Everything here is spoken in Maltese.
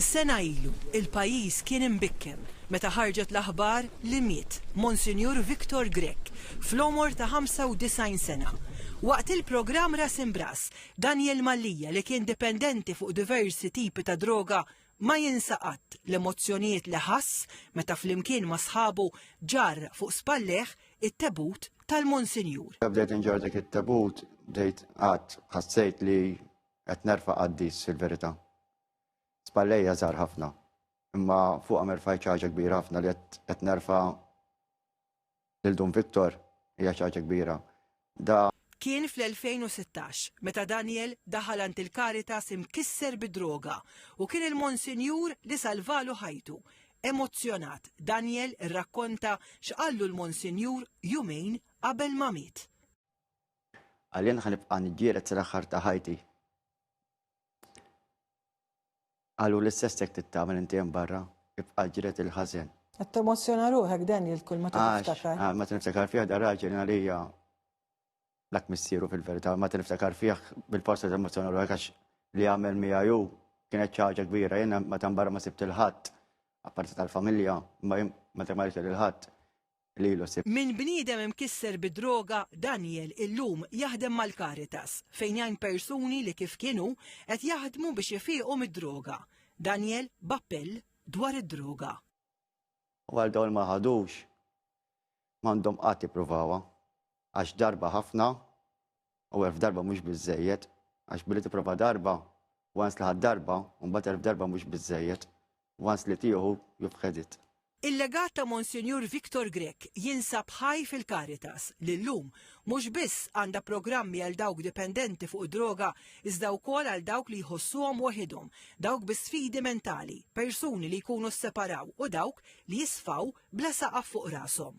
Sena ilu, il-pajjiż kien imbikkem meta ħarġet l-aħbar li miet Monsinjur Victor Grech fl-għomor ta' 95 sena. Waqt il-programm Ras Imb'Ras, Daniel Mallia li kien dipendenti fuq diversi tipi ta' droga ma jinsa qatt l-emozzjonijiet li ħass meta flimkien ma' sħabu ġarr fuq spallejh it-tebut tal-Monsinjur. Meta bdejt inġarr dik it-tebut bdejt qatt ħassejt li Qed nerfa' qaddis il-verità. Spallejja żgħar ħafna, imma fuqhom erfajt xi ħaġa kbira ħafna li qed nerfa' lil Dun Victor hija xi ħaġa kbira. Da. Kien fl-2016 meta Daniel daħal għand il-Caritas imkisser bid-droga u kien il-Monsinjur li salvalu ħajtu. Emozzjonat, Daniel irrakkonta x'qallu l-Monsinjur jumejn qabel ma miet. Għalien ħa nibqa' niġġieled sal-aħħar ta' ħajti. Qalu li s-sessek tittamel inti hemm barra, ibqa' ġiret il-ħażen. Qed temozzjona ruħek Daniel kull ma tiftakar. Ah, ma tiniftakar fih da raġel għalija dak missieru fil-verità, ma tiniftakar fih bil-posta temozzjona ruħek għax li għamel miegħu kienet ċaġa kbira, jenna ma tambarra ma sibt il-ħadd, apparti tal-familja, ma ma tambarra il-ħadd. lilu. Minn bniedem imkisser bid-droga, Daniel illum jaħdem mal-Caritas, fejn jgħin persuni li kif kien hu, qed jaħdmu biex ifiequ mid-droga. Daniel b'appell dwar id-droga. U għal dawn li ma ħadux, m'għandhom qatt jippruvawha, għax darba ħafna U elf darba mhux biżżejjed, għax billi tipprova darba, once li ħadd darba, u mbagħad elf darba mhux biżżejjed, once li tieħu, you've had it. Il-legat ta' Monsinjur Victor Grech jinsab ħaj fil-Caritas li llum mhux biss għandha programmi għal dawk dipendenti fuq id-droga iżda wkoll għal dawk li jħossuhom waħidhom, dawk bi sfidi mentali, persuni li jkunu sseparaw u dawk li jisfaw bla saqaf fuq rashom.